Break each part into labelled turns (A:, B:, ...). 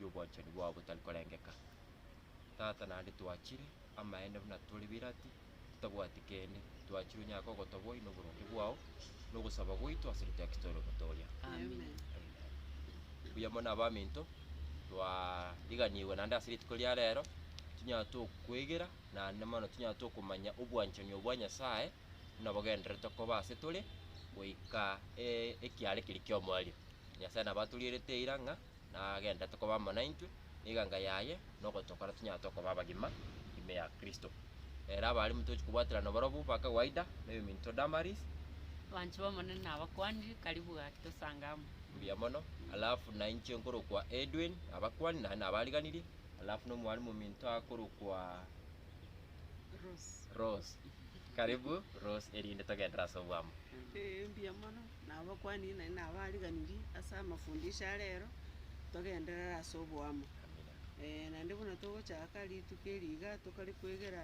A: y'obwanchani bwao botari korengeka. Tata naende twachire amaene buna tore birati, totabwati kende, twachire onyare kogotoboi noboronge bwao, nogosaba gwaito ase rituko Kristo ore omotooria. Amen. Mbuya mono abaminto, twariganigwe naende ase rituko ria rero, tunyare tokwegera naende mono tunyare tokomanya obwanchani obwo bwa Nyasae buna bogendererete koba ase tore goika ekiare keria ki'omoerio. Nyasae nabo atorierete eira ng'a nagenderete koba amo naintwe, na eganga yaye nogotokora tonyare tokoba abagima ime ya Kristo. Ere abarimo tochi kobwaterana barobwo ba kawaida, na eyominto Damaris. Abanchwa b'Omonene nabakwanire, karibu gaki tosange amo. Mbuya mono. Alafu nainche nkorokwa Edwin, nabakwani, naende nabariganirie, alafu na omwarimu ominto akorokwa Rose. Rose. Karibu Rose, erinde togenderere ase obwamo. Mbuya mono. Na abakuani naende nabo ariganirie ase amafundisho a rero, togenderere ase oboamo. Ee, naende buna togochaka rituko eri iga, tokare kwegera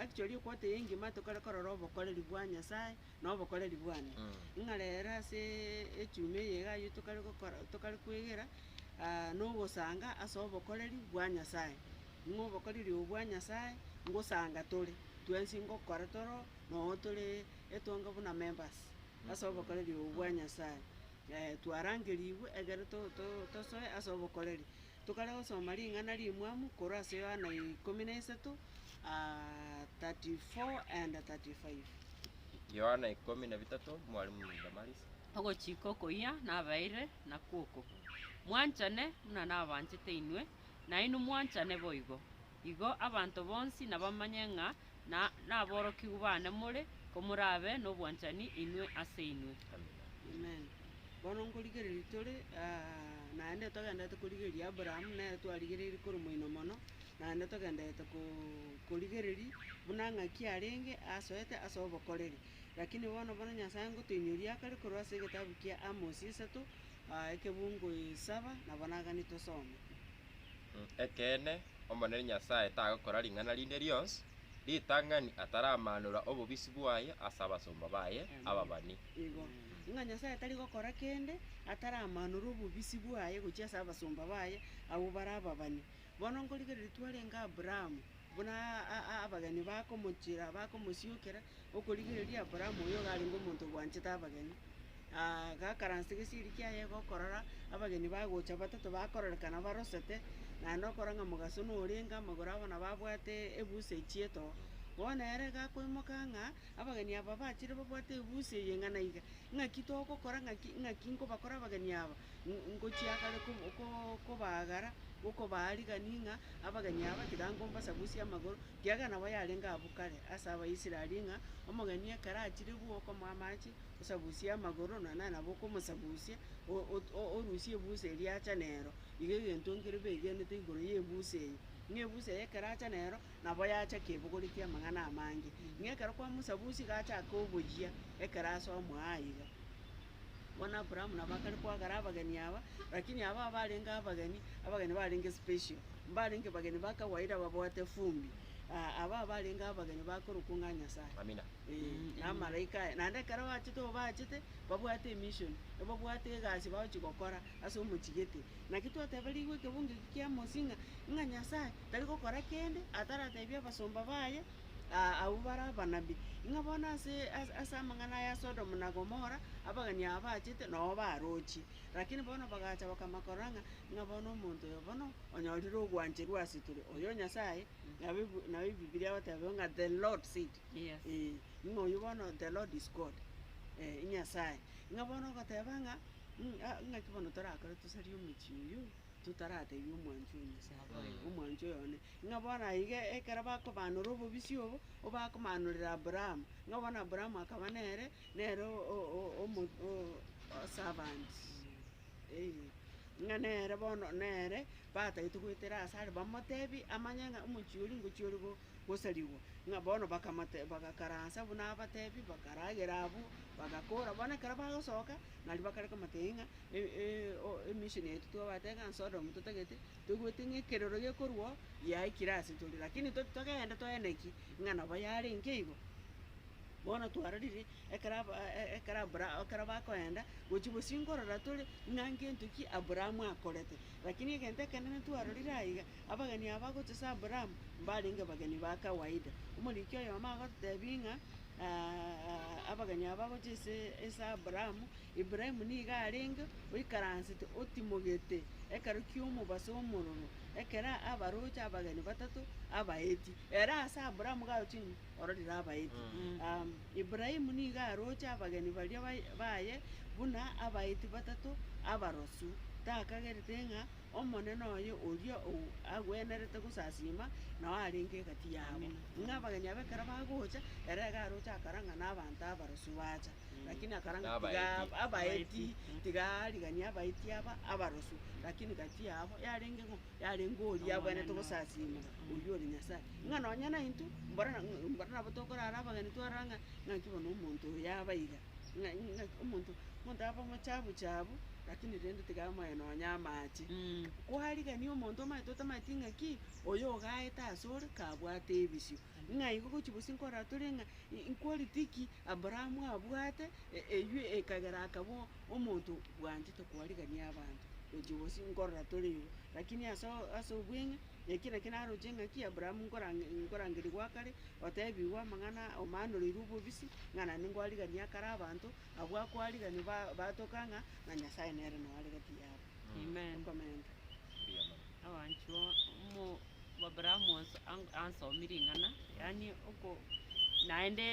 A: actually equota eye engima tokare korora obokoreri bwa Nyasae, na obokoreri bwane. Ng'a rero aseee echuma eye iga aywo tokare gokora tokare kwegera, na ogosanga ase obokoreri bwa Nyasae. Ng'a obokoreri obo bwa Nyasae, ngosanga tore, twensi ngokora toro, noo tore etonge buna members. ase obokoreri obo bwa Nyasae, eh, twarangerigwe ekero to- to- tosoe ase obokoreri. Tokare gosoma ring'ana rimwamu korwa ase Yohana ikomi na isato, 34 and 35. Yohana ikomi na bitato, Mwalimu Damaris. Ogochika okoyia nabeire nakwo oko, Mwanchane buna nabanchete inwe, nainwe mwanchane boigo. Igo abanto bonsi nabamanye ng'a naborokigwa bane more, komorabe nobwanchani inwe ase inwe. Amen. Bono nkorigereria tore, naende togendererete korigereria Abraham, nere twarigereirie korwa moino mono, naende togendererete korigereria buna ng'aki arenge asoete ase obokoreri. Rakini bono, bono Nyasae ngotoinyoria akare korwa ase egetabu kia Amosi isato, ekebuungo saba, nabo nagani tosome. Ekeene, Omonene Nyasae tagokora ring'ana rinde rionsi ritang'ani ataramanora obobisi bwaye ase abasomba baye ababani. Igo, ng'a Nyasae tari gokora kende ataramanora obobisi bwaye gochia ase abasomba baye abwo bare ababani. Bono nkorigereria twarenge Aburaamu. Buna abageni bakomochiera bakomosiokera, okorigereria Abrahamu oyogo arenge omonto obwanchete abageni, gakaransa egesieri kiaye gokorora abageni bagocha batato bakororekana barosete, naende okora ng'a mogaso norenge amagoro abo nabo abwate ebusa echie too. Bono ere gakoimoka ng'a abageni aba bachire babwate ebusa eye ng'a naiga, ng'aki togokora ng'aki ng'aki nkobakora abageni aba, Ng- ngochia kare ko- ko- kobaagara, gokobaa rigani ng'a abageni aba tiga ngombasabusia amagoro, kiagera nabo yarenge abwo kare ase Abaisraeli ng'a omogeni ekero achire bwo okomoa amache osabusie amagoro nonya naye nabo okomosabusia, o- o- o- orusie ebusa eria acha nero. Iga egento nkere begenete igoro ya ebusa eye, ng'a ebusa eye ekero acha nero, nabo yacha kebogori kia amang'ana amange. Ng'a ekero kwamosabusie iga achake oboyia ekero ase omoa iga. Bono Abrahamu nabo akare koagara abageni aba, lakini aba abarenge abageni, abageni barenge special, mbarenge bageni ba kawaida babwate fumbi, ah, aba abarenge abageni bakorokwa ng'a Nyasaye. Amina. Eh, na amalaika aya, naende ekero bachete obaachete, babwate emission, ebabwate egasi bagochi gokora ase omochie gete. Naki twateberigwe ekebungo eki kia Amosi ng'a, ng'a Nyasaye tari gokora kende ataratebia abasomba baye, aa, abwo bare abanabii, ng'a bono ase ase amang'ana aya Sodomu na Gomora, abageni aba bachete nao barochie. Lakini bono bagacha bakama korora ng'a, ng'a bono omonto oyo bono onyorire ogwancherwa ase tore, oyo Nyasae, nabo ebi nabo ebibilia egoteba ng'a the Lord said, Yes. eeh, ng'a oyio bono the Lord is God, eh, Nyasae. Ng'a bono ogoteba ng'a, mm a- ng'aki bono torakore tosarie omochie oyio. totaratebia omwancho o Nyasae, omwancho oyone, ng'a bono aye iga ekero bakobaanora obobisia obo, obakomaanorera Abrahamu, ng'a bono Abrahamu akaba nere, nere o- o- o- omo- o- o- servant, eeh, ng'a nere bono nere batagete goetera asare, bamotebie amanye ng'a omochie oria ngochia ore bo. gosarigwa, ng'a bono bakamate bagakaransa buna abatebi, bakaragera abwo, bagakora. Bono ekero bagosoka, nario bakare komotebi ng'a e- e- o- emission yaito twabate iga Sodomu totagete, toigwete ng'a ekerero gekorwa oo yaikire ase tore, lakini to- togende toeneki ng'a nabo yarenge igo. Bono twarorire ekero aba e- ekero Abra ekero bakoenda, gochia bosio nkorora tore ng'a ngento ki Abrahamu akorete. Lakini egento ekenene twarorire aiga. Abageni aba gochesa Aburaamu mbarenge bageni ba kawaida. Omoriki oyomo agotebi ng'a abageni aba bagocha ase Aburaamu, Ibrahimu nigo arenge oikaransete otimogete ekero ki'omobaso omororo, ekero abaroche abageni batato abaeti. Ere ase Aburaamu iga aroche ng'a ororire abaeti. Ibrahimu nigo aroche abageni baria baye buna abaeti batato abarosu, takagerete ng'a Omonene oye oria agwenerete gosasiima, nao arenge egati yabo. Ng'a abageni abo ekero bagocha, ere iga aroche akora ng'a nabaanto abarosu bacha. Lakini akora ng'a tiga Nabaeti. abaeti, tiga ariganie abaeti aba abarosu, lakini gati yabo yarenge ng'o? yarenge oria agwenerete gosasiima, oyio ore Nyasae. Ng'a nonye naintwe, mbora na- mbora nabo tokorara abageni twarora ng'a, ng'aki bono omonto oyo yaba iga. ng'a ng'a omonto omonto abe omochabu chabu, rakini rende tiga amoe nonya amache. Kwarigania omonto omanyete otamanyeti ng'a ki, oyo ogaete asore kabwate ebisio, ng'a igo gochi gose nkorora tore ng'a i- inquality ki Abrahamu abwate, e- eywo ekagera akaba o- omonto bwanchete kwarigania abanto, gochi gose nkorora tore igo. Rakini ase o- ase obweng'e. Eki nakio naroche ng'aki Abrahamu nkorangerigwa akare, oteebigwa amang'ana omaanoreirwe obobisi, ng'a naende nkwarigania akare abanto, abwo akwariganio batoka ng'a na Nyasae nere noo are gati yabo. Amen. Okomenta. Abanchwa, Abrahamu ansomie ring'ana, yaani naende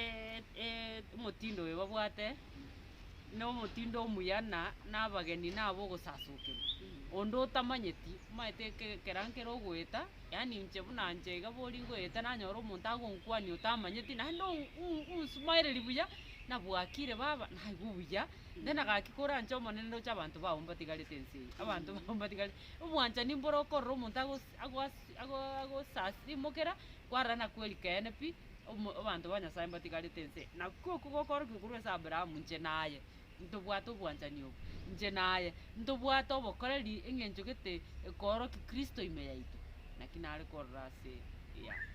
A: omotindo oyo babwate. nomotindo omuya na nabageni na abogosasokerwa. Onde otamanyeti omaete eke- ekero nkere ogoeta, yaani inche buna nche iga bori ngoeta nanyora omonto agonkwania otamanyeti naende o- o- onsumaereri buya, nabwakire baba, naigwa obuya, then agaki kore anche Omonene roche abanto bao mbatigarete ense eye, abanto bao mbatigarete, obwanchani mbore okorora omonto agosi- agoasi- ago- agosasi mokera, kwarora na kweri keene pi. omo, abanto ba Nyasae mbatigarete ense, na koko gokoorokigwa korwa ase Abrahamu, inche naye ntobwate obwanchani obo, inche naye ntobwate obokoreri, eng'encho gete ekoorokia Kristo ime yaito, naki nare korora ase eyane.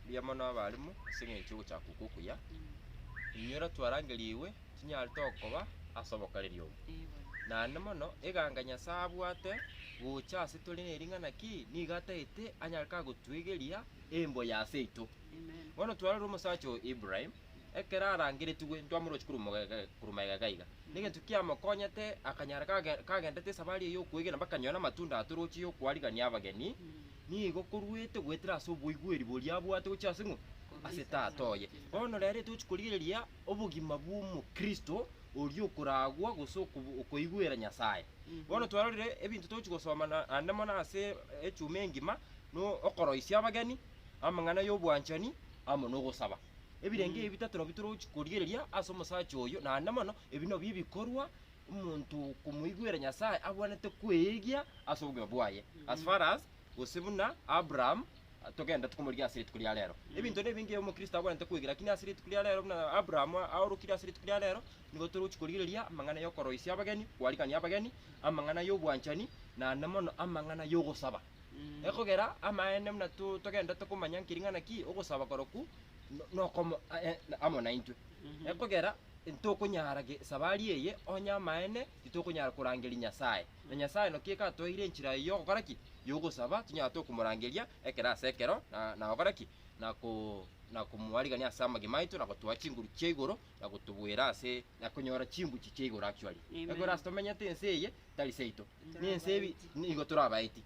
A: Mbuya mono abalimu ase eng'encho y'ogochaka okwo okuya. Inwe ero twarangerigwe tinyarete okoba ase obokoreri obo. Ee bono. Naende mono eganga Nyasae abwate gocha ase tore nering'ana ki? Nigo ataete anyare kagotuegeria embo ya seito. Bono twarore omosacha oyo Ibrahim, ekero arangeretigwe ntwamoroche korwa magega iga iga, negento kiamokonyete akanyara kagenderete esabari eye yokwegena mpaka akanyora amatunda atoroche yokwarigania abageni, nigo korwete goetera ase oboigweri boria abwate gochia ase ng'o? Ase tata oye. Bono rero etochi korigereria obogima bw'omokristo oria okoragwa gose okoigwera Nyasaye. Bono twarorire ebinto tochi gosoma naende mono ase echuma engima, nokoroisia abageni, amang'ana y'obwanchani, amo nogosaba. Ebirengo ebi bitato nabio torochi korigereria ase omosacha oyio, naende mono ebi nabio ebikorwa omonto komoigwera Nyasae abwanete kweegia ase obogima bwaye, as far as gose buna Abraham togenderete komorigia ase rituko ria rero. Ebinto nebinge omokristo abwanete kwegera, lakini ase rituko ria rero buna Abraham aorokire ase rituko ria rero, nigo torochi korigereria amang'ana y'okoroisia abageni, koarigania abageni, amang'ana y'obwanchani, naende mono amang'ana y'ogosaba. Ekogera amaene buna togenda tokomanya nki ring'ana ki ogosaba korokwo nokomo amo naintwe. Ekogera ntokonyara gesabari eye onye amaene titokonyara korangeria Nyasaye. Na Nyasaye naki ekatoeire enchera eye yogokora ki? Yogosaba tonyare tokomorangeria ekero ase ekero na gokora ki? Na komoarigania ase amagima aito na gotoa chinguru chia igoro na gotobuera ase na konyora chinguchi chia igoro actually. Ekogera ase tomenyete ense eye tari seito. Nense ebi nigo torabaeti.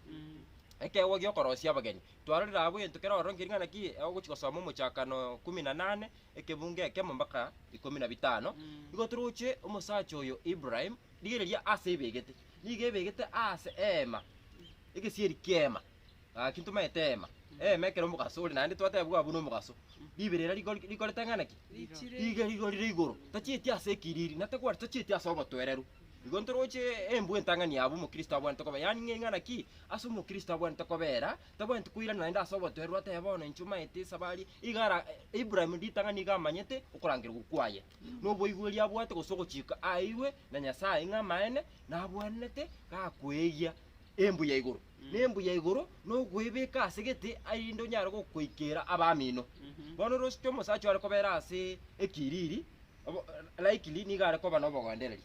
A: Ekeegwa gi'okorosia abageni. Twarorire abwo egento kera ororo nkeri ng'ana ki ogochia gosoma Omochakano ikomi na nane, ekebungo ekemo mpaka ikomi na bitano. Nigo toroche omosacha oyo Ibrahim, rigereria aase ebegete. Nigo ebegete aase eema, egesieri ki'eema. Gaki ntomaete eema, eema ekero omogaso ore naende twateebigwa abwo nomogaso. Ribere eria riko rikorete ng'a naki? Riga rigo rire igoro, tachieti ase ekiriri, na tagwari tachieti ase obotwereru. Igo ntoroche embwe entang'ani abwo omokristo abwanete koba, yaani ng'ei ng'a naki? Ase omokristo abwanete kobera, tabwaneti koirana naende ase obotwereru atebe bono inche omaete esabari, iga ara Ibrahim ritang'ani iga amanyete okorangerigwa kwaye. Na oboigweri abwate gose ogochika aeirwe na Nyasaye ng'a amaene, nabwenerete gakweegia embwe ya igoro. Nembuya igoro nokwebeka ase gete arinde onyare gokoikera abamino. Bono orosike omosacha are kobera ase ekiriri obo likely nigo are koba nobogondereria.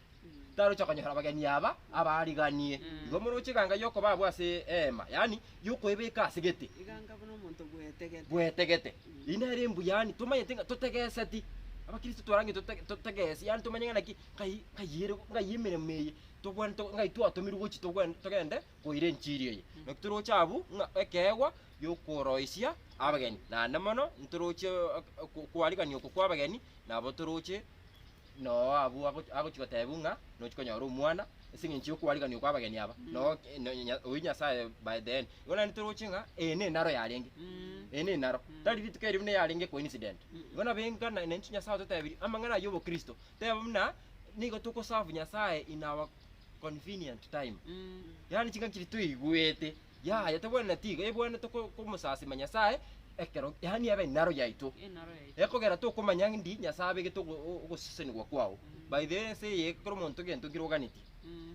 A: Taroche konyora abageni aba abariganie. Igo moroche eganga yokoba abwo ase eema, yaani yokwebeka ase gete. Eganga buna omonto bwetegete. Bwetegete. Eri nere embuya yaani tomanyete ng'a totegeseti. Abakristo twarange tote totegesi yaani tomanye ng'a naki ngai ngai ere ngai emeremo eye togwene to ngai twatomirwe gochi togwene togende. koira enchiri eye. Naki toroche abwo ng'a ekeegwa gi'okoroisia abageni, naende mono ntorochie okwarigania oko kw'abageni, nabo toroche noo abwo ago- agochia gotebiwa ng'a nochia konyora omwana ase eng'encho y'okwarigania okwa abageni aba, noo oyio Nyasaye by the end. Igo naende toroche ng'a eye nenaro yarenge, eye nenaro, tari rituko erio buna yarenge coincident. Igo nabo enga naende inche Nyasaye ototebirie amang'ana ayio y'obokristo, tebe buna nigo togoserve Nyasaye in our. convenient time. Yaani chingaki chiria toigwete yaya tobwene na tiga ebwane toko komosasima Nyasaye ekero yaani ebe enaro yaito. Enaro yaito. Ekogera tokomanya ng'indi Nyasaye abegete ogo o- ogosesenigwa kwao. By the way ense eye ekero omonto gento nkire oganeti.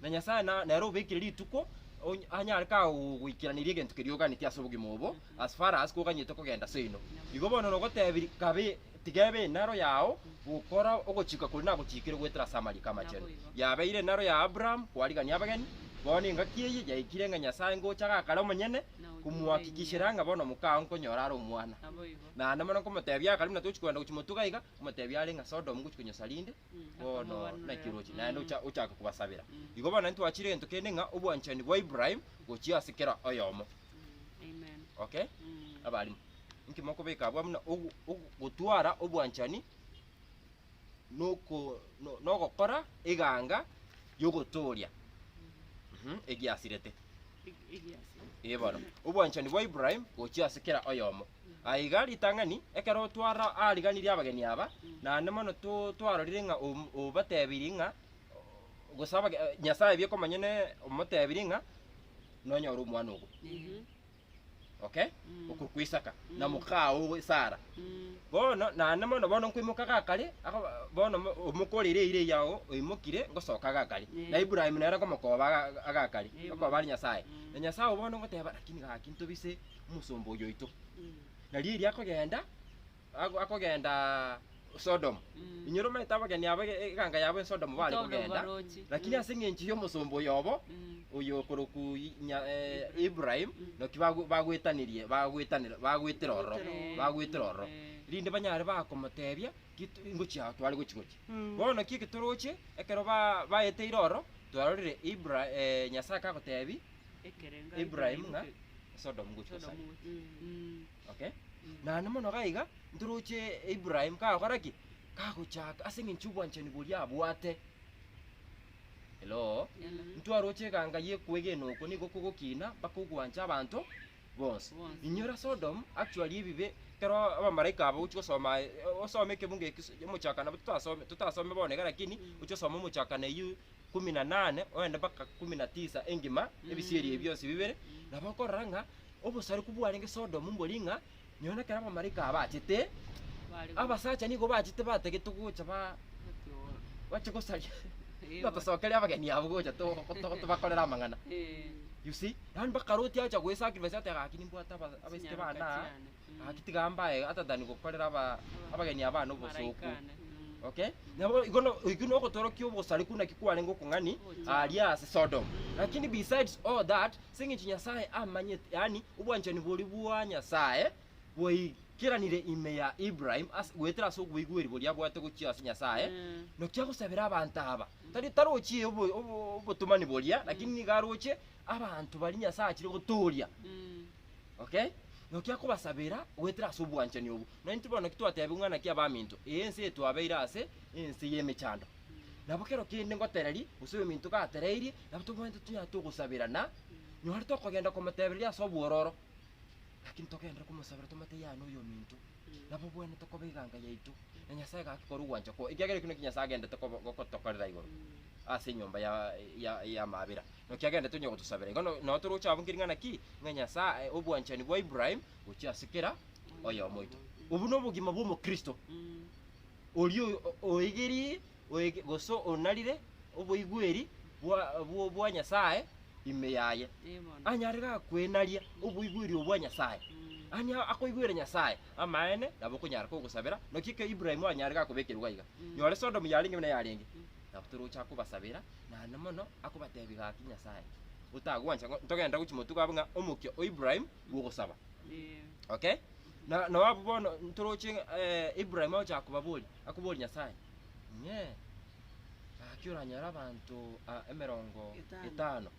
A: Na Nyasaye na nere obekire rituko onye anyare kagogoikeraneria egento keria oganeti ase obogima obo. as far as koganyete kogenda seino. Igo bono nogotebirie, Kabe, tiga ebe enaro yao, gokora ogochika koria nagochiikire goetera as'Amaria k'Amachenu. Yabeire enaro ya Abraham kwarigania abageni, bono engaki eye yaikire ng'a Nyasae ngocha gakare omonyene komuhakikishera ng'a bono omokao nkonyora are omwana. Naende mono nkomotebia, Akare buna tochi kogenda gochia motuga iga, omotebia are ng'a Sodom ngochia konyosa rinde, bono naki oroche, naende ocha- ochake kobasabera. Igo bono naintwe twachire egento kende ng'a obwanchani bwa Ibrahim gochia ase kera oyomo. Amen. Okay? Mm. Abarimu, inki mokobeka abwo buna ogo- ogo- gotwara obwanchani noko- no- nogokora eganga ri'ogotooria Mhm, egiasirete. Ig- igiasi. Ee bono, obwanchani bwa Ibrahim gochia ase kera oyomo. Aiga ritang'ani, ekero twara aariganirie abageni aba, naende mono to twarorire ng'a om- obatebirie ng'a gose abage Nyasaye biekomonyene omotebirie ng'a nonyore omwana ogo. Okay? Okorwa kwa Isaka, na mokaa owe Sara. Bono naende mono bono nkoimoka gakare, akoba bono mo- omoka ore ire ire yao oimokire ngosoka gakare. Na Ibrahim nere nkomokoba aga- agakare, okoba are Nyasaye. Na Nyasaye obo bono ngoteba, rakini gaki ntobise. omosomba oyo oito. Na riria akogenda, ako- akogenda Sodomu, Mm. inyora omanyete abageni abo ege- eganga yabo esodomu bare Sodomu kogenda, barochi. lakini Mm. ase eng'encho y'omosomba oyo obo, Mm. oyo okorokwa i- nya- eh, Ibrahim. Ibrahim, Mm. naki bago- bagoetanirie bagoetanera bagoetera ororo, Bagoetera ororo. bagoetera ororo. Eh. Rinde banyare bakomotebia, Git- ingochia ao tware gochi gochi. Mm. Bono naki eketoroche, ekero ba- baeteire ororo, twarorire Ibra- eh, Nyasae kagotebi. Ibrahim ng'a Sodomu gochia Sodomu gosana. gochia. Mm. Okay? Mm. Naende mono gaiga, ntoroche Ibrahim kagokora ki? Kagochaka ase eng'encho y'obwanchani boria abwate. Hello? Hello. Mm. Ntwaroche eganga y'ekwegena oko nigo kogokina mpaka ogwancha abanto bonsi. Bonsi. Inyora Sodomu, actually ebibe, ekero abamalaika aba ogochia gosoma, eh, osome ekebungo ekio, omochakana, totasome, totasome bono iga lakini, Mm. oche osome omochakana eyio ikomi na nane oende mpaka ikomi na tisa engima, ebisieri ebi bionsi bibere, nabo okorora ng'a obosareku bwarenge Sodomu mbori ng'a nonya ekero abamalaika aba bachete, abasacha nigo bachete batagete gocha ba bache gosaria batosokeria abageni abwo gocha to- to- tobakorere amang'ana. You see? Yaani mpaka Loti agocha goe-sacrifice ate gaki nimbwate aba- abaiseke bane aa, Gaki tiga mbae atatani gokorera aba abageni aba na obosooku. Okay? Nabo igo no oigwe no ogotorokia obosareku naki kwarenge okong'ani aaria ase Sodom. Lakini besides all that, ase eng'encho Nyasae amanyete, yaani obwanchani boria bwa Nyasae bwaigeranire ime ya Ibrahim ase goetera ase oboigweri boria abwate gochia ase Nyasae, naki agosabera abanto aba. Tari tarochie obo obo obotomani boria, lakini nigo aroche abanto baria Nyasae achire gotooria. Okay? Naki akobasabera goetera ase obwanchani obwo. Na intwe bono ki twatebiwa ng'a naki abaminto, ee ense etwabeire ase ense y'emechando. Nabo kero kende ngotereria, gose oyominto gatereirie, nabo tobwenerete tonyare togosaberana, nonye tokogenda komotebereria ase obwororo, lakini togenderere komosabera tomotebi yaya noyominto. nababwenerete koba eganga yaito, na Nyasae gaki korwa ogwancha kwao, ekiagera ekio nakio Nyasae agenderete kobo- gotokorera igoro ase enyomba ya ya- y'amabera, naki agenderete onye gotosabera. Igo no- nao toroche abwo nkiring'ana ki? Ng'a Nyasae obwanchani bwa Ibrahim gochia ase kera oyomo oito. Obwo nobogima bw'omokristo, oria o- oegerie Oeke, gose onarire oboigweri bwa Nyasae ime yaye, anyare gakwenaria oboigweri obwo bwa Nyasae, yaani akoigwere Nyasae amaene, nabo okonyara kogosabera. Naki ekero Ibrahimu anyare gakobekerwa iga iga, nyore Sodomu yarenge buna yarenge, nabo toroche akobasabera, naende mono akobatebia gaki Nyasae, otagwancha ng'a ntogende gochia motuko abe ng'a omokia o Ibrahimu bw'ogosaba. Okay? Na, nao abwo bono ntoroche Ibrahimu agochaka kobaboria, Akobooria Nyasae, Inye, gaki oranyore abanto aa emerongo etano,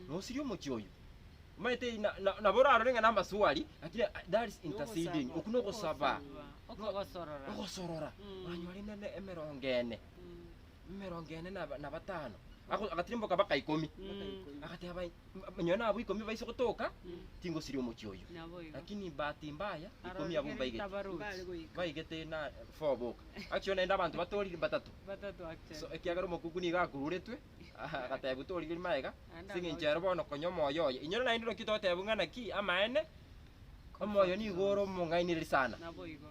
A: na osirie omochie oyio? Omanyete eyi na- na- nabo orarore ng'a namaswali, lakini ah, that is interceding, okwo nogosaba, okogosorora. ogosorora, oranyore nene emerongo ene. emerongo ene na na batano, Ago- agatirimboka baka ikomi, agateba, "Mba- nonye nabwo ikomi baise gotoka, tingosiria omochie oyo. Nabo igo. Lakini bahati mbaya, ikomi abwo mbaigeti. Mbare goika. Baigete na four boka. Actually naende abanto batorire batato. Batato So actually. ekiagera omokuku nigo akururetwe, agatebwa torigeri magega, Naende ase eng'encho ero bono konya omoyo oye. Inwe naende naki totebiwa ng'a naki amaene, omoyo nigo ore omong'ainereria sana. Nabo igo.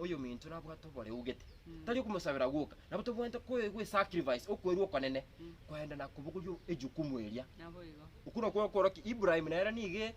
A: Oyominto nabwate oboreu gete, tari okomosabera gwoka, nabo tobwenerete koegwa esacrifice, okwerua okonene, korende na kobogoria ejukumu eria. Naboigo. Okwo nokwo okorokia Ibrahim nere nigo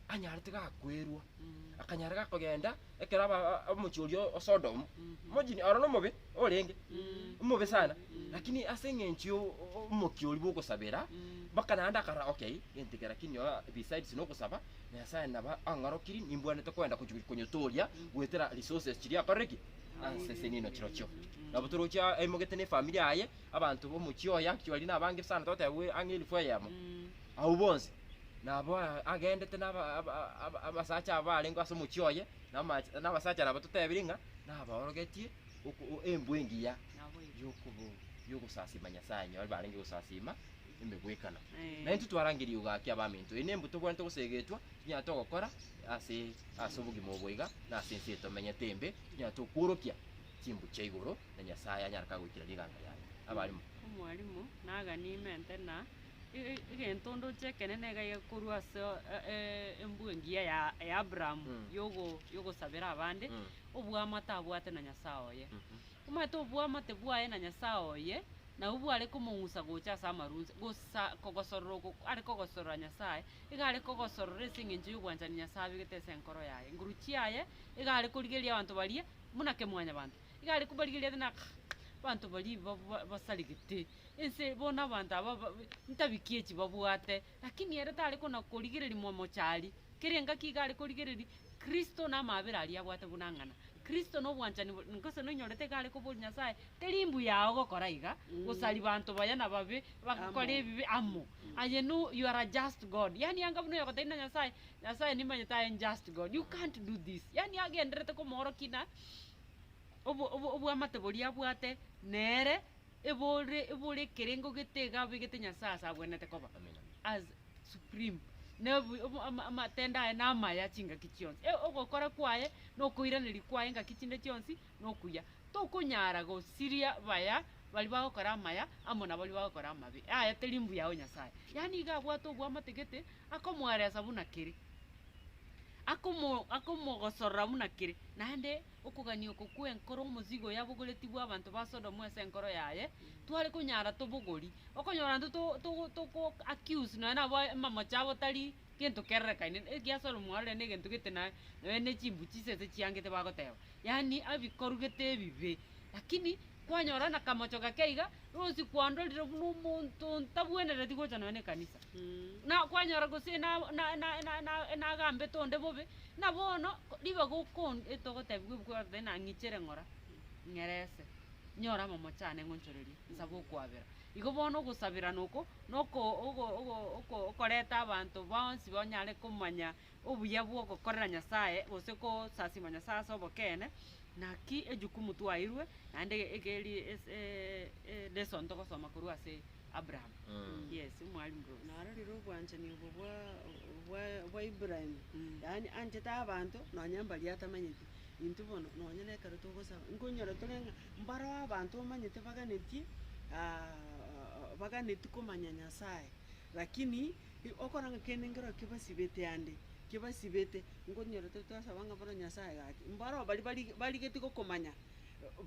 A: anyarete gakwerua, Mm. akanyara gakogenda ekero aba omochie oria o Sodom, Mhm. imagine aro nomobe orenge, Mm. omobe sana, Mm. lakini ase eng'encho yo o- o- omokia oria bwogosabera, Mm. mpaka naende akarora okay, gento eke lakini oo besides nogosaba. Nyasae naba ang'orokirie, nimbwanete koenda gochia konyotooria goetera resources chiria akorire ki? Asese niino chirochio. Nabo toroche a- aimogete na efamiri yaye, abanto b'omochie oye actually aria nabange sana toteba bwe ang'e elfu eyemo. Abwo bonsi, nabo a- agendete na aba- aba- aba- aba- abasacha aba barenge ase omochie oye, na amache- na abasacha nabo totebiri ng'a nabaorogetie oko- o- embwe engiya Nabo igo. yokobo- yogosasiima Nyasae, onye barenge gosasiima. emegwekano. Na intwe twarangeria igo gaki abaminto, eyi nembu tobwenerete goseegetwa, tonyare togokora ase ase obogima obo iga, na ase ense eye tomenyete embe, tonyare tokworokia chimbu chia igoro, na Nyasae anyare ka goikera rigaanga riaye. Abarimo. Omwalimu, naganie ime nte na e- e- egento ndoche ekenene iga iga korwa ase e- e- embwe engiya ya ya Abraham Mm. yogo yogosabera abande, Mm. oboamate abwate na Nyasae oye. Mhm. Omanyete oboamate bwaye na Nyasae oye. Na obu are komong'usa gocha ase amarunse, gosa kogosorora oko are kogosorora Nyasae, iga are kogosorora ase engencho y'obwanchani Nyasae abegete ase enkoro yaye. Nguru chiaye iga are korigereria abanto baria buna kemwanyabanto, iga are kobarigereria ase naka abanto baria ba- ba- basaregete ense, bono abanto aba ba- ntabikie chibabwate. Lakini ere tare kona-korigereria momochari, kera engaki iga are korigereria Kristo na amaabera aria abwate buna ng'ana. Kristo na obwanchani boria gose noinyorete iga are koboria Nyasae, Teri mbuya yao gokora iga, gosaria banto baya na babe bagokora ebibe amo. Aye no, you are a just God. Yaani anga buna oyogotebi na Nyasae, Nyasae nimanyete aye njust God, you can't do this. Yaani agendererete komoorokia na obo, obo, obwamate boria abwate nere Ebore ebore ekerengo gete iga abegete Nyasaye ase agwenete koba. Amina. As supreme. Nebu obo ama amatendo aye na amaya chingaki chionsi. E ogokora kwaye na okoiraneria kwaye engaki chinde chionsi na okuya. Tokonyara gosiria baya bari bagokora amaya amo na bari bagokora amabe. Aye teri mbuya o Nyasaye. Yaani iga abwate obwamate gete akomoeresa buna kere. Akomo akomogosorora buna kere. Naende Okogania oko kw'enkoro omozigo yabogoretigwe abanto ba Sodomu ase enkoro yaye, tware konyara tobogori, okonyora intwe to to toko accuse nonya nabo amamocho abo tari gento kererekaine, ekiya Solomo arorire na egento gete naye, nonya ne chimbu chisese chiangete bagoteba, yaani abikorugete ebibe, lakini kwanyora na kamocho gake iga, rosie kwandorire buna omonto ntabwenereti gocha nonya ne ekanisa. na kwanyora gose na na na na na nagambete onde bobe, na bono ko ribaga okon etogotebigwa ebuku ya Omobatano nang'ichere ng'ora, ng'erese, nyore amamocho ane ng'onchorerie, nsabe okwabera. Igo bono ogosaberana oko, na oko ogo ogo oko okoreta abanto bonsi banyare komanya obuya bw'ogokorera Nyasae gose kosasima Nyasae ase obokeene, naki ejukumu twaeirwe naende egeri ase lesson togosoma korwa ase Abraham. Yes, omwalimu Rose. Narorire obwanchani obo bwa bwa bwa Ibrahim, yaani anchete abanto nonya mbaria atamanyeti. Intwe bono nonya na ekero togosaba, nkonyora tore ng'a mbareo abanto omanyete baganetie baganeti komanya Nyasae, lakini. Okoranga kende nkero kebasibete ande, kebasibete, nkonyora tari twasaba ng'a bono Nyasaye gaki, mbaro baria bari barigetie gokomanya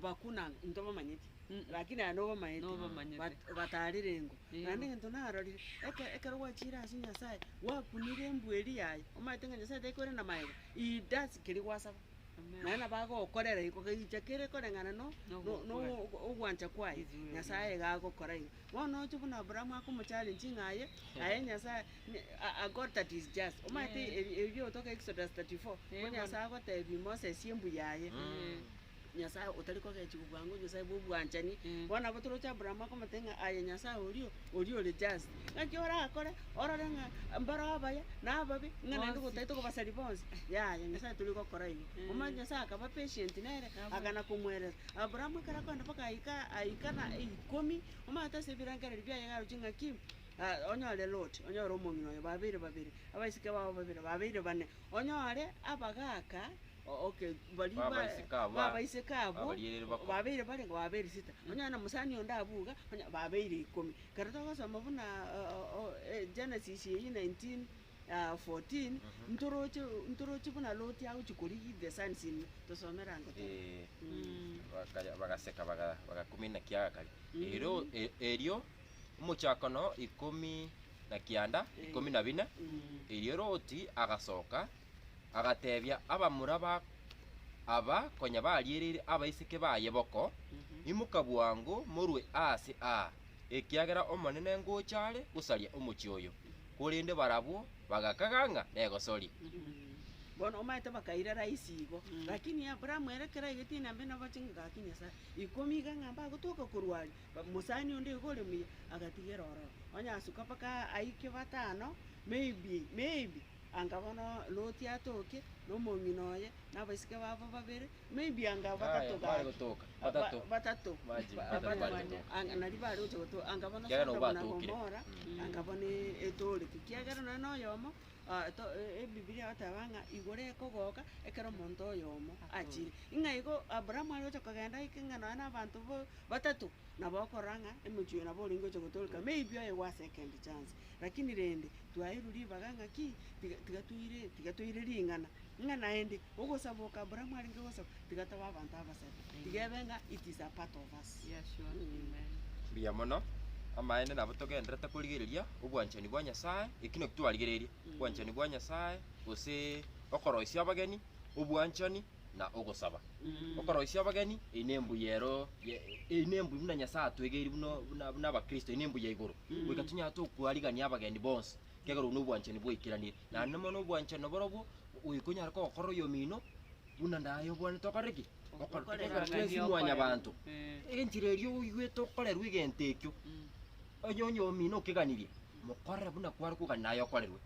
A: bakuna ng'a ntobamanyeti, rakini aye nobamaete, Nobamaete. but batarerengwa. Eeh. Naende egento narorire, eke- ekero gwachire ase Nyasaye, gwakunire embweri yaye, omaete ng'a Nyasaye tekorende na magega, he does keria gwasaba. Naende nabo agokorera iko kegicha kere koreng'ana no- no- no- no- no- ogwancha kwaye, Nyasaye iga agokora iga. Bono oche buna Abraham akomocharenchi ng'a aye, aye Nyasaye ne- a- a God that is just. Omanyete ebi- ebi biogotoka Exodus thirty four, ko Nyasaye agotebia Moses embu yaye, Nyasaye otari kogechi kobua ng'o, Nyasaye bw'obwanchani. Bono nabo toroche Abraham akomotebia ng'a aye Nyasaye oria o. oria ore just, ng'aki orakore orore ng'a mbare abaya na ababe, ng'a naende Bonsi. gotaete kobasaria bonsi, yaya Nyasae tori gokora igo. Omanyete Nyasae akaba patient nere, akana komoerera. Abrahamu ekero akogenda mpaka aika aika na ikomi, omanyete ase ebirengereri biaye iga aroche ng'aki, ah onyore Loti, onyore omong'ina oye, babeire babere, abaiseke babo babere, babeire bane, onyore abagaka Babaiseke abo babeire barenge babeire sita, nonya aye nomosani onde abwo iga, onye babeire ikomi. Ekero togosoma buna Genesis eyio nineteen fourteen, ntoroche ntoroche buna Loti agochia korigia the sons in law, tosome erango tebe. Bagaseka bagakumina ekiaga kare. Erio omochoko no ikomi na kianda, ikomi na bina, erio Loti agasoka Agateebia abamura ba aba konya bariereire abaiseke baye boko, Imoka bwango, morue aase aa, ekiagera Omonene ngocha are gosaria omochie oyo. Korende barabwo bagakaga ng'a negosoria. Bono omanyete bakaira raisi igo. Lakini Abrahamu ere kera egete inambe nabo ching'aka akia Nyasae ikomi iga ng'a mbagotoka korwa aria, ba- mosani onde iga ore muya agatigera ororo. Onye asuka mpaka aa aike batano, maybe, maybe, Anga bono Loti atoke, na omong'ina oye, na abaiseke babo babere, maybe anga batato gaki. Bare gotoka, batato. Batato. Imagine, Ba- batato bare batato. gotoka. Anga nari bare gocha gotoka. Anga bono Kiagera Sodoma na obatokire. Gomora, Mm. anga bono e- etoorete. Kiagera nonye na oyomo, ah, to- e- ebibilia egoteba ng'a igoro ekogoka ekero omonto oyomo achire. Ng'a igo Abrahamu are gocha kogenda aike ng'a nonye na abanto bo- batato, nabo okorora ng'a emochie oyo nabo orenge gocha gotooreka, maybe oyo ewase ekendi chance. Lakini rende, twaeirwe ribaga ng'a ki? Tiga, tiga toire, tiga toire ring'ana, ng'a naende ogosaba oko Abrahamu arenge gosaba, tiga tobe abanto abasare, tiga ebe ng'a it is a part of us. Yes, sure. Amen. Mbuya mono. Amaene nabo togenderete korigereria obwanchani bwa Nyasae, eki naki twarigereria, obwanchani bwa Nyasae, gose okoroisia abageni, obwanchani, na ogosaba. Okoroisia abageni, eyi nembuya ero ye- eyi nembuya buna Nyasae atwegeirie buna buna buna Abakristo, eyi nembuya igoro, goika tonyare tokoarigania abageni bonsi, ekiagera obwo nobwanchani bwaikeraniire. Naende mono obwanchani naborobwo, goika onyare kogokora oyomino, buna naye obwanete okore ki? Okore Okorerania twensi okore. mwanyabanto. Eh. Enchera eria oigwete okorerwa egento ekio, onye oyomino okeganirie, Mokorere buna kware kogania naye okorerwe.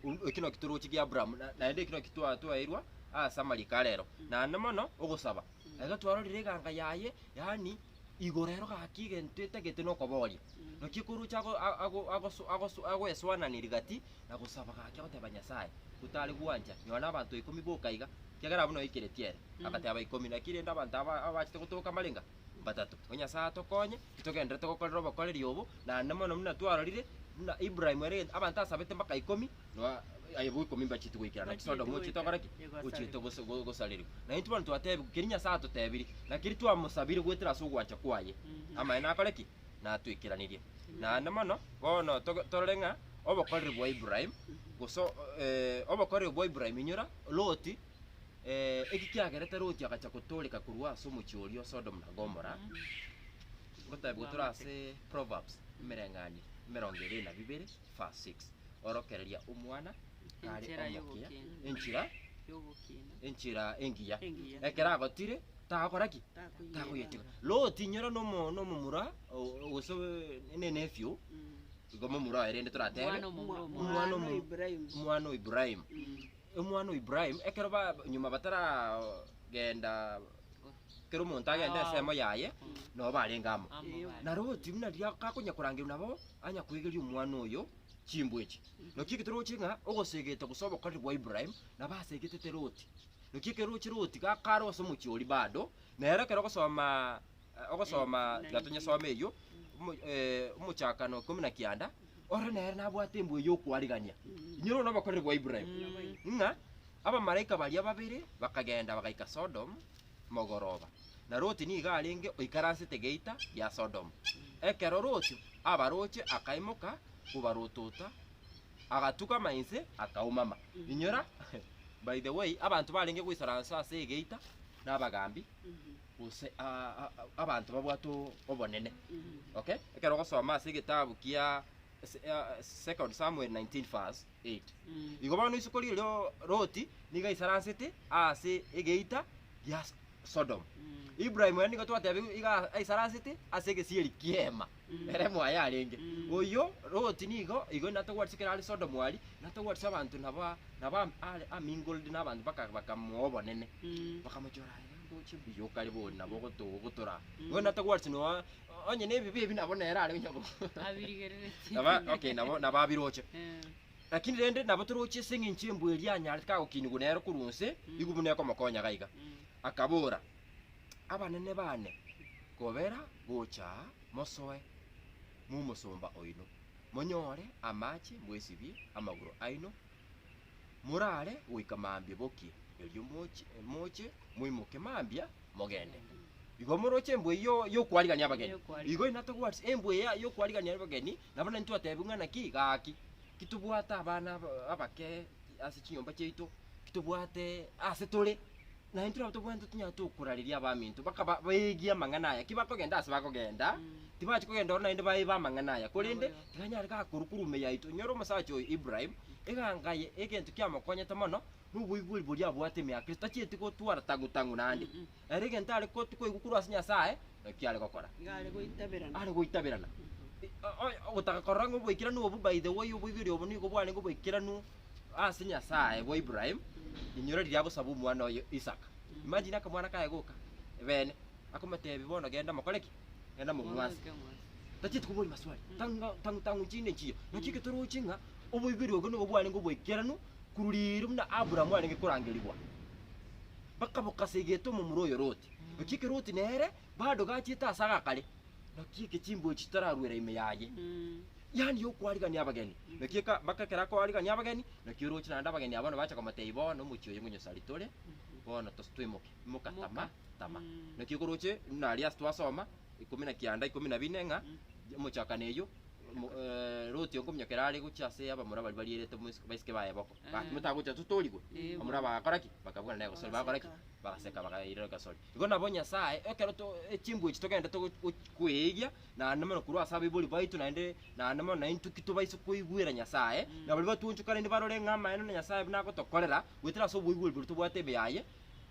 A: Uru- Eki noki toroche gia Abraham, na- naende eki noki twa- twaeirwa ase amariko arero, naende mono ogosaba. Ekero twarorire eganga yaye, yaani igoro ero gaki egento etagete nokoboria. Naki ekoroche ago- a- ago- agoso- agoso- agoeswanani rigati na gosaba gaki agoteba Nyasaye, gotare gwancha, nyora abanto ikomi boka iga, ekiagera abwo noikeretie ere. Agateba ikomi, naki rende abanto aba- abachete gotoka mbarenga? Mbatato. Ko Nyasaye atokonye, Titogendererete gokorera obokoreri obo, naende mono buna twarorire, buna Ibrahimu ere egento abanto asabete mpaka ikomi, noa aye bo ikomi mbachiete goikera, naki Sodomu ochiete gokora ki? Ochiete gose- go- gosarerigwa. Na intwe bono twatebigwe keria Nyasae atotebirie, na keria twamosabire goetera ase ogwancha kwaye, amaene akore ki? Natoikeranirie. Naende mono, bono toge- torore ng'a obokoreri bwa Ibrahimu, gose o- obokoreri obwa Ibrahimu inyora Loti. Eki kiagerete Loti agacha gotooreka korwa ase omochie oria o Sodomu na Gomora, ngotebiwa tore ase Proverbs emereng'anio emerongo ebere na bibere verse 6, Orokereria omwana are Enchera omokia y'ogokiina. enchera y'ogokiina enchera engiya, Engiya. ekero agotire tagokora ki? Takoyega. Takoyeteba. Loti inyora nomo nomomura o- gose ne nephew, igo momura oye rende toratebe. Omwana omomura omwana omwana omo- Ibrahimu. omwana o Ibrahimu. Omwana o Ibrahimu, ekero ba nyuma bataragenda kera omonto agende ensemo yaye, nabo barenge amo. Na Loti buna riria gakonya korangerwa nabo, anya koegeria omwana oyo chimbwa echi. Naki eke toroche ng'a ogosegete gose obokoreri bwa Ibrahimu nabo asegetete Loti. Naki ekero oroche Loti gakare gose omochie oria bado, nere ekero ogosoma. eh, ogosoma tiga tonyesome eyio, omo- eh, omochakano ikomi na kianda, ore nere nabwate embwe y'okwarigania, inyore one obokoreri bwa Ibrahim, ng'a abamalaika baria babere bakagenda bagaika Sodom mogoroba, na Loti nigo arenge oikaransete geita gia Sodom. Ekero Loti abaroche akaimoka kobarotota, agatukama inse akaumama. Inyora, by the way, abanto barenge goisaransa ase egeita nabagambi, gose abanto babwate obonene. Okay? Ekero ogosoma ase egetabu kia Second Samuel 19 verse 8. Igo bono isiko riria Loti nigo aisaransete ase egeita gia Sodom. Ibrahim ere nigo twateba iga aisaransete ase egesieri ki'eema ere moyo arenge. Oyio Loti nigo igo natogwenerete ekero are Sodom aria natogwenerete abanto nabo nabo a mingled nabanto baka bakamoa obonene. Bakamochora. Oyio okare bori nabo ogotogwa ogotora. Bono atagwareti noa onye nebibe ebi nabo nere are onye bo. Abirigereretie. Naba okay nabo nabo abiroche. Lakini rende nabo toroche ase eng'encho embwa eria yanyarete kagokinigwa nere korwa onse, igo buna ekomokonya gaiga. Akabora, Abanene baane, kobera gocha aa mosoe momosomba oino, monyore amache mwesibie amagoro aino, Morare goika mambia bokie, erio moche, moche, moimoke mambia, mogende. Igo moroche embwa eyio y'okwarigania abageni. Y'okwarigania. Igo in other words, embwa eya y'okwarigania abageni, nabo nari twatebia buna ng'a ki, gaki, titobwate abana aba- abake ase chinyomba chiaito, titobwate ase tore. Na intwe nabo tobwenerete tonyare tokorareria abaminto, bakaba baeegi amang'ana aya. Ki bakogenda aase bakogenda, tibachia kogenda oro naende baebe amang'ana aya, korende tikanyare gakorwa korwa ime yaito. Enyora omosacha oyo Ibrahim, eganga eye, egento kiamokonyete mono, noboigweri boria abwate ime ya Kristo, tachieti gotwara tang'u-tang'u naende. Ere egento are ko- koigwa korwa ase Nyasaye, nakio are gokora. Iga are goitaberana. Are goitaberana. I- o- o- ogotaka korora ng'a oboikeranu obo by the way, oboigweri obo nigo bwarenge oboikeranu ase Nyasae bwa Ibrahim, inyora riria agosaba omwana oye Isaka. Imagine akamwana kaye goka ebene akomotebi bono genda mokore ki? Genda momwase. Tachieti koboria maswali. Tanga tangu tangu chinde nchiyo. Naki eketoroche ng'a oboiberi obo nobo bwarenge oboikeranu korwa riiro buna Abraham arenge korangerigwa. Bakaboka ase egento omomura oyo Loti. Naki eke Loti nere bado gachiete ase agakare, Naki eke chimbuya chitararuera ime yaye, yaani y'okoarigania abageni. Naki eka- mpaka ekero akoarigania abageni, naki orooche naende abageni abwo nabache komoteebia, Bono omochie oyo ngonyosari tore, bono tos- toimoke, imoka, tama, tama. Naki okoroche buna aria ase twasoma, ikomi na kianda ikomi na bine, ng'a omochakano eyio, omo- Loti onkominyoka ere are gochia ase abamura baria barierete omoiseke- baiseke baye boka. Bakigwa tagocha totoorigwe, bamura bagakora ki? Bakabwana negosori, bagakora ki? Bagaseka. Bagaseka bakaira egesori. Igo nabo Nyasae, ekero to echimbuya echi togenda togo gochi koeegia, naende mono korwa ase abaibori baito naende, naende mono naintwe ki tobaise koigwera Nyasae, na baria batwoonchokanire barore ng'a amaene na Nyasae buna agotokorera, goetera ase oboigweri boria tobwate ime yaye,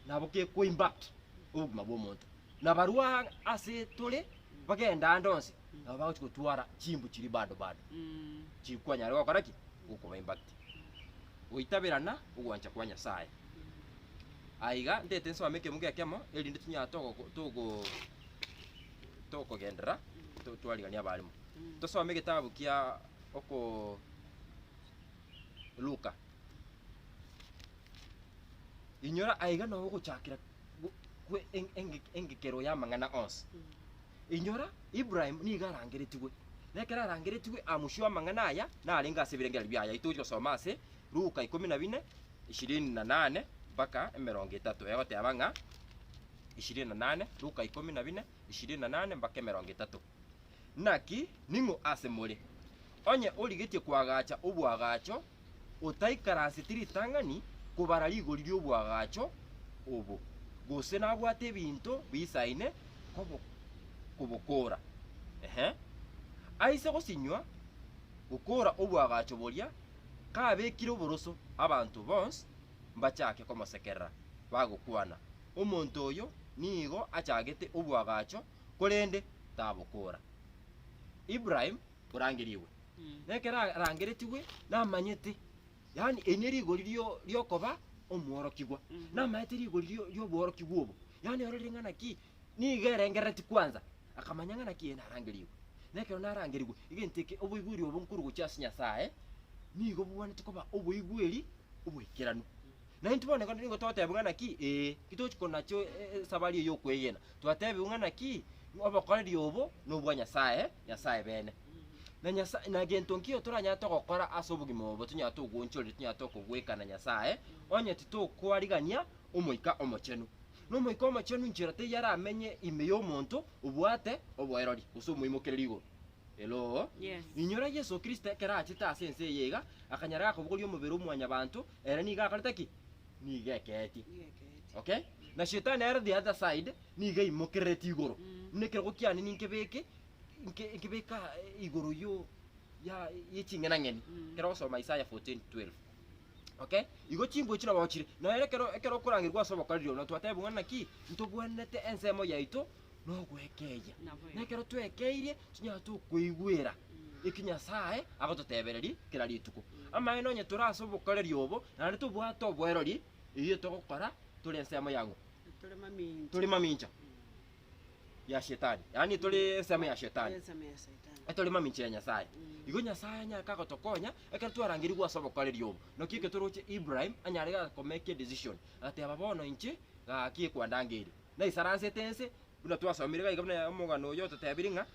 A: nabo gekoa impact obogima bw'omonto. Na barwoo aa ase tore, bagenda aande onsi, nabo bagochi gotwara chimbu chiria bado bado, chiri kwanyare gokora ki? Gokoba impact. goitaberana ogwancha kwa Nyasae. Aiga ndete nsome ekemo gekemo erinde tunyare togo- togo- togogenderera to- twarigania abarimo. Tosome egetabu kia oko Luka. Inyora aiga nao ogochakera. Gu- gwe eng- eng- engekero y'amang'ana onsi. Inyora, Ibrahim nigo arangeretigwe. Na ekero arangeretigwe amusio amang'ana aya, narenge ase ebirengererio biaye. Ayio togochia gosoma ase Luka ikomi na bine, ishirini na nane mpaka emerongo etato. Egoteba ng'a ishirini na nane, Luka ikomi na bine, ishirini na nane mpaka emerongo etato. Naki ning'o ase more, onye origetie koagacha oboagacho, otaikaranseti ritang'ani kobara rigori ri'oboagacho obo, gose nabwate ebinto biisaine kobo kobokoora? Inhe, aise gosinywa gokoora oboagacho boria, kabekire oboroso, abanto bonsi mbachake komosekerera, bagokwana, Omonto oyo nigo achagete oboagacho! korende tabokoora. Ibrahim orangerigwe, nekero arangeretigwe namanyete, yaani eri nerigori rio riokoba omworokigwa, namanyete rigori rio rioborokigwa obo, yaani ororire ng'a naki nigo erengerereti kwanza, akamanya ng'a naki eeh narangerigwe. Nekero narangerigwe, egento eke oboigweri obo nkorugochia ase Nyasaye, nigo bobwanete koba oboigweri obwekeranu. Naintwe bono ekero nigo totebiwa ng'a naki, ee, titochi konacha esabari eye y'okwegena, twatebiwa ng'a naki, obokoreri obo nobwa Nyasaye, Nyasaye bene. Na Nyasaye, na gento nkio toranyare togokora ase obogima obo tonyare togoonchoreri, tonyare tokogwekana Nyasaye, onye titokoarigania Omoika Omochenu. Na Omoika Omochenu nchera teiyo aramenye ime y'omonto obwate oboirori gose omoimokereri igoro. Hello? Yes. Inyora Yeso Kristo ekero achete ase ense eye iga, akanyara gakobogoria omobere o mwanyabanto, ere nigo akorete ki? Nigo ekeetie. Nigo ekeetie. Okay? Mm. Na shetani ere the other side nigo aimokerereti igoro. Mm. Buna ekerogo kiane ninkebeke nke- nkebeka eh, igoro yo ya ye ching'ena ng'eni. Mm. Kero ogosoma Isaiah 14:12. Okay? Igo chimbuya chire nabo chire. Noyo ekero ekero okorangerigwa ase obokoreri obo, notwateba buna naki ntobwanete ensemo yaito nogwekeria. Naboigo. Nekero twekeirie tonyare tokoigwera eki Nyasaye agototebereria kera rituko. Amaene onye tore ase obokoreri obo, naende tobwate oboerori, eyio togokora tore ensemo ya ng'o? Tore mamincha. Tore mamincha ya shetani, yaani tore ensemo ya shetani. Ensemo ya Shetani. Etore mamincha ya Nyasaye. Igo Nyasaye anyare kagotokonya ekero twarangerigwe ase obokoreri obo. Naki ekero toroche Ibrahim anyare ga komeka edecision, agateba bono inche gaki ekwandangeire. naisaransete ense, buna twasomire iga iga buna omogano oyio ototebirie ng'a,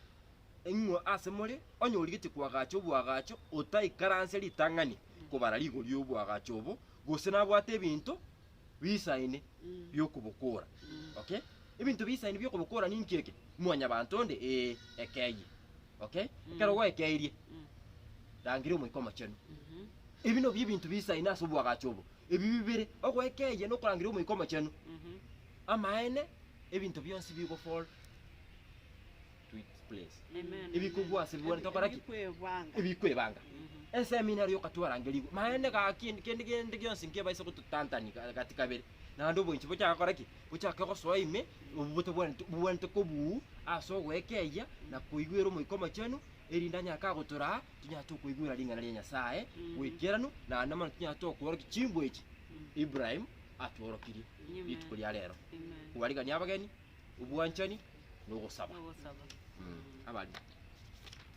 A: Ing'we ase more, onye origetie koagacha oboagacho, otaikaranse ritang'ani kobara rigori y'oboagacho obo, gose nabwate ebinto biisaine bi'okobokora. Okay? Ebinto biisaine bi'okobokora ninki eke? Mwanyabanto onde? Ee, ekeyie. Okay? Ekero gwaekeirie, rangeria Omoika Omochenu. Ebi nabio ebinto biisaine ase oboagacho obo. Ebi bibere, ogoika eye na okorangeria Omoika Omochenu, amaene, ebinto bionsi bigofora. Ebikogwa ase bibwani tokora ki? Ebikwebanga. Eseminari yokatwarangeriwa maene gaki, kende gende gionsi nkebaise gototantani gati kabere, naende oboinchi bochake gokora ki? Bochake gosoa ime, obwo botabwaneti bobwanete kobuu ase ogoika eya na koigwera Omoika Omochenu, erinde anyare kagotoraa Tinyara tokoigwera ring'ana ria Nyasae goikeranu, naende mono tinyara tokoorokia chinguru echi Ibrahim atworokirie Amen. rituko ria rero, Amen. kobarigania abageni, obwanchani, na ogosaba. Nogosaba. Mm. Abari.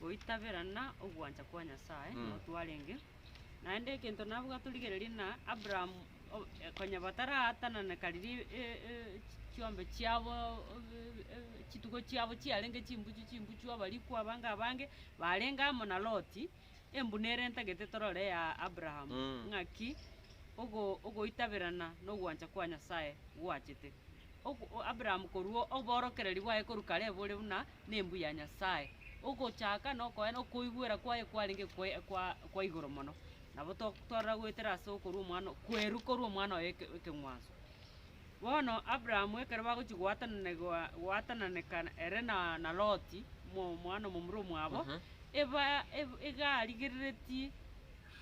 A: Goitaberana ogwancha kwa Nyasae Mm. nigo twarenge. Naende egento nabwo gatorigereria na Abraham konya bataraatanana kariria chiombe chiabo chitugo chiabo chiarenge chimbuchu chimbuchu abariku abange abange barenge amo na Loti, embuna ere ntagete torore ya Abraham ng'aki ogoitaberana na ogwancha kwa Nyasae gwachete. Abraham korwa oborokereri bwaye korwa kare bore buna nembu ya Nyasae, ogochaka na okoigwera kwaye kwarenge kwa igoro mono. Nabo totorera goetera ase okorua omwana, kwerwa korwa omwana oye ekeng'wanso. Bono Abraham ekero bagochia goatananegwa goatananeka ere na na Loti, mo- omwana omomura omwabo, eba eb- iga arigerereti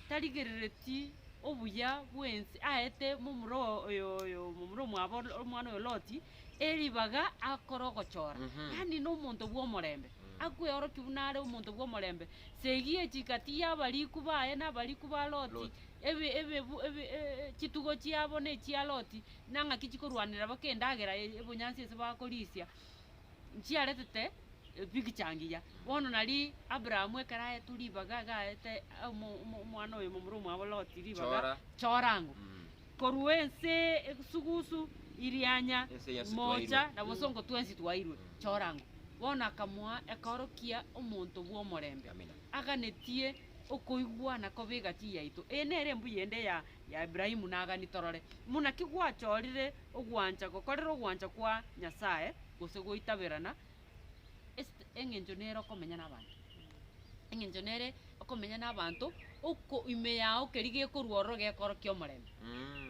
A: tarigerereti obuya bw'ense aete momura oyo oyo momura omwabo omwana oyo Loti. eribaga akore ogochora, yaani nomonto bw'omorembe, akweorokie buna are omonto bw'omorembe, segie chigati y'abariku baye na abariku ba Loti, ebi- ebibu- ebi- e- e- chitugo chiabo na echia Loti, na ng'aki chikorwanera baka endagera ya ebonyansi ase bakorisia, nchiaretete epicture ngiya. Bono nari Abraham ekero aetwe ribaga iga aete omo- omo- omwana oyo momura omwabo Loti ribaga, Chora. chora ang'u. Korwa ense esugusu irianya mocha na bosongo twensi twairwe chorango. Bono akamoa ekeoro kia omonto bw'omorembe, aganetie okoigwana kobe egati yaito. Eye nere embuya ende ya ya Ibrahimu na Agani torore, buna ki gwachorire ogwancha gokorera ogwancha kwa Nyasae gose goitaberana Es't engencho nere okomenya nabanto, engencho nere okomenya nabanto, oko ime yao keri gekorwa ororo gekorokia omorembe.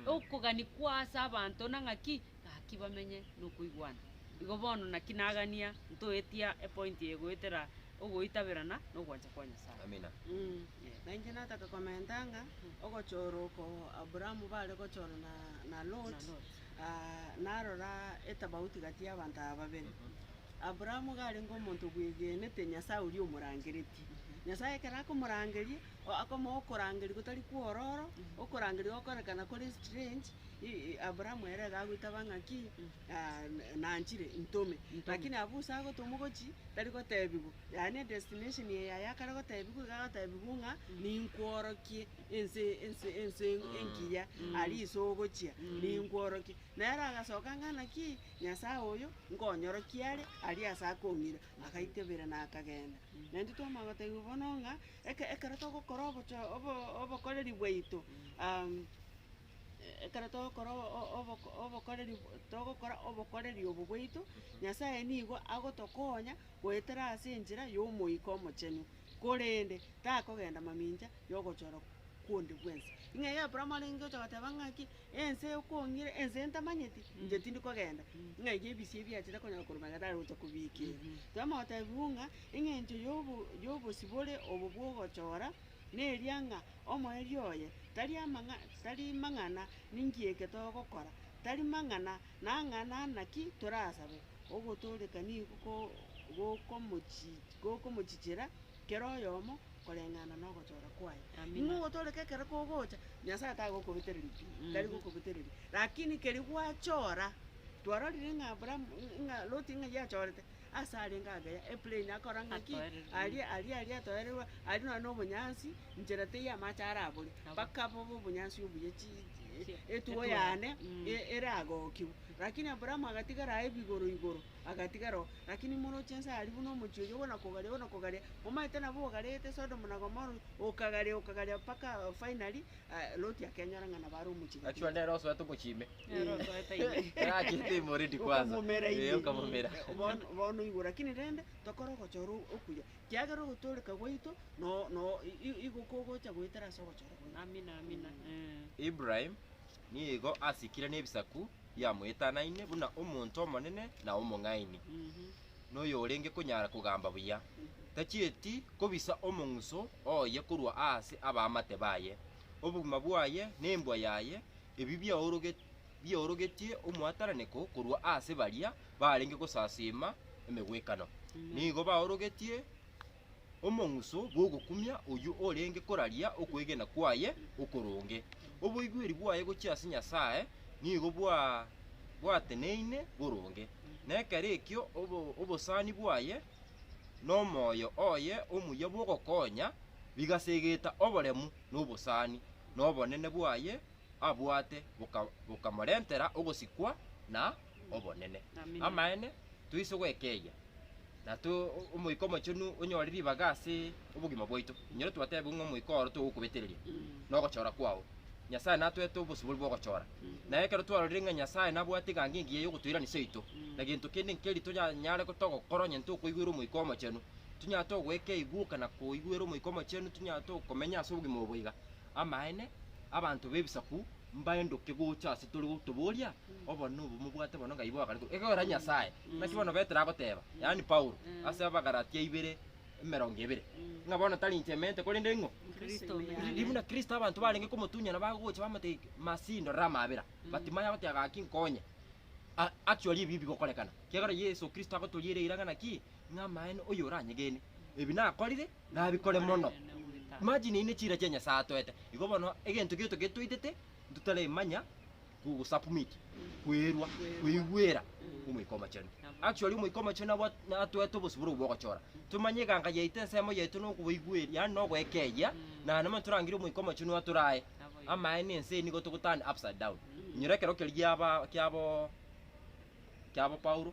A: Okogani kwa ase abanto na ng'aki, gaki bamenye nokoigwana. Igo bono naki nagania ntoetia epointi eye goetera ogoitaberana na ogwancha kwa Nyasae. Amina. Eeh. Na inche nataka komenta ng'a ogochora oko Aburaamu bare gochora na- na Loti. Narora etabauti gati y'abanto aba babere, Aburaamu iga arenge omonto obwegenete Nyasae oria omorangeretie. Nyasae ekero akomorangeria, akomoa okorangeria gotari kw'ororo, okorangeria gokorekana kore strange, Aburaamu ere iga agoitaba ng'aki, Nanchire, intome. Lakini abwo Usa agotomwa ogochia, tari gotebigwa, yaani edestination eye yaye akare gotebigwa iga agotebigwa ng'a, ninkworokie. Ense, ense, ense engiya aria iso ogochia, ninkworokie. Nere agasoka ng'ana ki, Nyasae oyo, nkonyorokie are, aria ase akong'ira. Agaitebera na akagenda. Naintwe twamanya gotebiwa bono ng'a, eke- ekero togokora obocho obo- obokoreri bwaito, ekero togokora o- o- oboko- obokoreri bwa togokora obokoreri obo bwaito, Nyasae nigo agotokonya goetera ase enchera ya Omoika Omochenu, korende takogenda mamincha, y'ogochorwa kwonde gw'ense. Ing'eyo y'Abrahamu arenge gocha goteba ng'aki, Ense y'okong'ira, ense y'entamanyeti, inche tindi kogenda, ng'a eria ebisio ebiachete konyora korwa magega tari gocha kobiikera. Toema gotebigwa ng'a eng'encho y'obo y'obosibore obo bw'ogochora, neria ng'a omoerio oye tari amang'a tari mang'ana ninki eke togokora, tari mang'ana nang'ana naki torasabe, ogotooreka nigo ko- gokomochi gokomochichera Kera oyomo koreng'ana nogochora kwaye. Nigo ogotoreka ekero kogocha, Nyasaye tagokobetereria pi, tari gokobetereria. Lakini keria gwachora, twarorire ng'a Abrahamu, ng'a Loti ng'a yachorete, ase arenge ageya, eplain akora ng'aki? Atoererwe. Aria aria aria atoererwe, aria nonye na obonyansi, nchera teiyo amache arabore, mpaka bobe obonyansi obuya chi chi- etuo yane e- eragokigwe. Lakini Abrahamu agatigara aye bigoro igoro, Agatigaro. Lakini moroche inse aria buna omochie oyio buna kogaria buna kogaria, omanyete nabo ogarete Sodomu na Gomora, okagaria okagaria mpaka finally Loti akenyora ng'a nabo are omochie Achua gatene. nere osoete omochie ime. Nere osoete ime. Erachete ime already kwanza. Okomomera Eh, ime. okamomera. Bono bono oigwe lakini rende, tokore ogochora okuya, kiagera ogotooreka gwaito no no i- i- igo kogocha goetera ase ogochora gwaito. Amina, amina. Eh. Ibrahim Nigo asikire nebisaku biamoetanaine buna omonto omonene na omong'aini, na oyorenge konyara kogamba buya, tachieti kobisa omong'uso oye korwa aase abaamate baye. Obogima bwaye na embwa yaye ebi biaoroge- biaorogetie omwatananeko korwa aase baria barenge gosasiima emegwekano, nigo baorogetie Omong'uso bw'ogokumia oyio orenge koraria okwegena kwaye okoronge. Oboigweri bwaye gochia ase Nyasae nigo bwateneine boronge, na ekero ekio obosani bwaye nomoyo oye omuya bw'ogokonya bigasegeta oboremu nobosani, na obonene bwaye abwate bokamorentera ogosikwa na obonene. toise gwekeyia, na Omoika Omochenu onyore ribaga ase obogima bwaito. Inyora twatebiwe ng'a Omoika oro togokobetereria nogochora kwao. Nyasae natoete obosibori bw'ogochora. Na ekero twarorire ng'a Nyasae nabwate egango engiya y'ogotoiranesia oito, na gento kende nkeri tonyare togokora onye ntokoigwera Omoika Omochenu, tonyare togoika eguka na koigwera Omoika Omochenu, tonyare tokomenya ase obogima obo boiga. Amaene, abanto b'ebisaku. mbaendoke gocha ase tore gotoboria, obo nobo mobwate bono ng'ai bwagarekire ekegwera Nyasae. Naki bono Petero agoteba, yaani Paulo, ase Abagalatia ibere, emerongo ebere, ng'a bono tari inche emente, korende ing'o? Kristo ore Kri- ore. Buna Kristo abanto barenge komotunyana bagogocha bamotebia, Masihi, ndorera amabera. But timanye agoteba gaki, nkonye. A- Actually ebi bigokorekana, kiagera Yeso Kristo agotoria ere eira ng'a naki, ng'a amaene oyo oranyegene. Ebi nakorire, Nabi kore mono! Imagine eyio ne chira chia Nyasae atoete. Igo bono egento gioto gete toitete ntotaremanya ku submit, kwerwa, koigwera Omoika Omochenu. Actually Omoika Omochenu nabo atoete obosibore obwo bwogochora. Tomanye eganga yaito, ensemo yaito na okobaigweri, yaani na ogoekeyia, na nabo ntorangerie Omoika Omochenu atore aye. Amaene ense eye nigo togo turn upside down. Inyora ekero keria giaba kiabo. kiabo Paulo,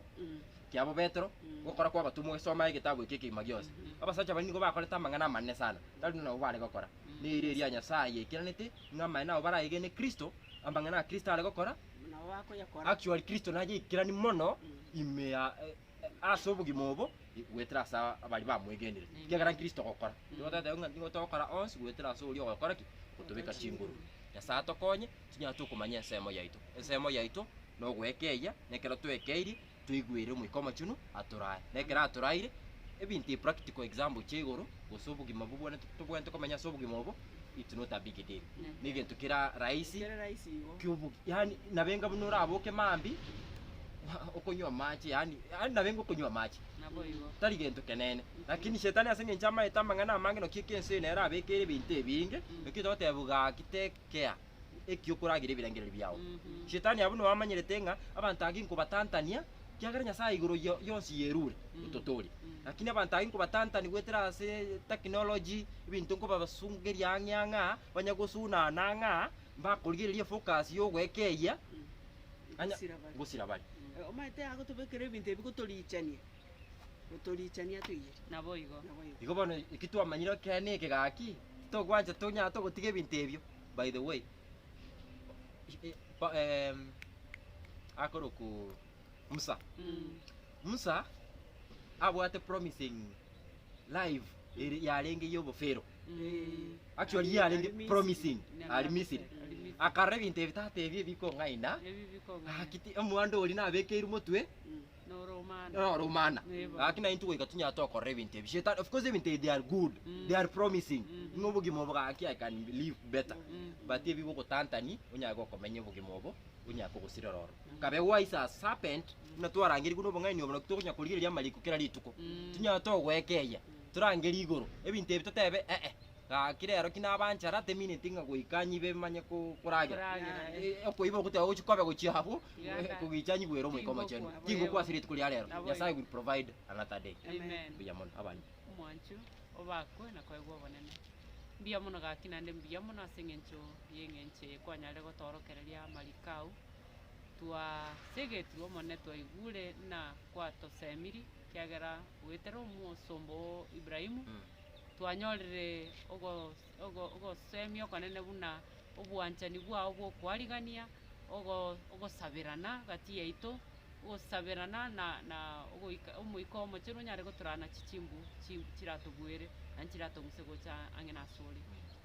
A: kiabo Petero, gokora kw'abatomwa ogesoma egetabu eke ekegima gionsi. Abasacha baria nigo bakorete amang'ana amanene sana, tari onde nabo bare gokora. Neira eria Nyasae yaikiranete, ng'a amaene abo barayegene Kristo, amang'ana a Kristo are gokora, nabo bakoyakora. Actually Kristo naye aikerani mono ime ya e- e- ase obogima obo goetera ase abaria bamwegenire. Amen. Kiagera Kristo ogokora. Nigo totebiwa ng'a nigo togokora onsi goetera ase oria ogokora ki? Ogotobeka chinguru. Nyasae atokonye. Tinyara tokomanya ensemo yaito. Ensemo yaito nogoekeyia, na ekero toekeirie, toigwere Omoika Omochenu atorae. Na ekero atoraire, ebinto ebi, practical example chia igoro, gose obogima bobwenerete tobwenerete komenya ase obogima obo, it's not a big deal. Negento kera rahisi, kiobogi, yaani nabenga buna oraboke mambia, okonywa amache, yaani yaani nabenga okonywa amache. Tari gento kenene. Lakini shetani ase engencho amaete amang'ana amange, naki ekense eye nere abekeire ebinto ebinge, naki togoteba gaki teke, kea ekio koragira ebirengererio biao. Shetani abwo noamanyerete ng'a abanto age nkobatantania, kiagera Nyasae igoro yo- yonsi yerure ototooria. Lakini abanto age nkobatantani goetera ase technology, ebinto nkobabasungeria ang'e ang'e aa, banye gosunana ang'e aa, mbakorigereria efocus ya ogoeka eyia, Anya- Gosira bare. gosira bare. Omanyete agotobekera ebinto ebi gotorichania, Gotorichania toigere. Naboigo. Igo bono eki twamanyire ekeene eke gaki, titokwancha tonyare togotiga ebinto ebio. By the way, eh, pa- em, akorokwa Musa, Musa abwate promising life eri- yarenge y'obofero. Actually yarenge promising, ari Misiri. Akarora ebinto ebi tata ebi ebikong'aina, Ebi bikong'aina. gaki ti- omwando oria nabekeirwe motwe, noromana gaki naye intwe goika tinyara tokorora ebinto ebi shetani of course ebinto ebi they are good mm. they are promising mm. ng'a obogima obo gaki i can live better mm. but ebi bogotantani onyare gokomenya obogima obo onyare kogosirera oro mm. kabe wise as serpent mm. na twarangerigwe nobong'aini obo naki tokonya korigereria amariko kera rituko mm. tinyara togwekeia mm. torangeri igoro ebinto ebi totebe ee eh, eh. Gaki rero ki nabanchare ate mineti ng'a goika nyibe manye koragera. Okoiba ogoteba gochi kobe gochia abwo kogicha nyigwere Omoika Omochenu. Chinguku ase rituko ria rero. Nyasaye will provide another day. Mbuya mono abande. Omwancho obakwe na koegwa obonene. Mbuya mono gaki naende mbuya mono ase eng'encho y'eng'encho eye kwanyarire gotoorokereria amariko ao. Twasegetirwe Omonene twaigure ng'a kwatosemiri. ekiagera goetera omosomba oo Ibrahimu, twanyorire ogos- ogo- ogosemia okonene buna obwanchani bwao bw'okoarigania, ogo- ogosaberana gati yaito, ogosaberana na na ogoika Omoika Omochenu onyare gotorana chi chimbu chi chiratobuere na chiratong'use gocha ang'e nasore.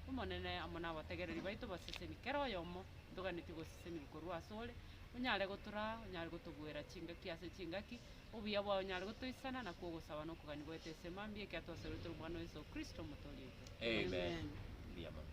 A: Omonene amo nabategereri baito baseseni kera oyomo ntoganeti gosesenigwa korwa asore, onyare gotoraa, onyare gotobuera chingaki ase chingaki, Obuya bwao nyare gotoisana na kw'ogosaba nokogania goeta esema mbuya ekiagera twasororete Omwana o Yeso Kristo Omotoori oito. Amen. Mbuya mono.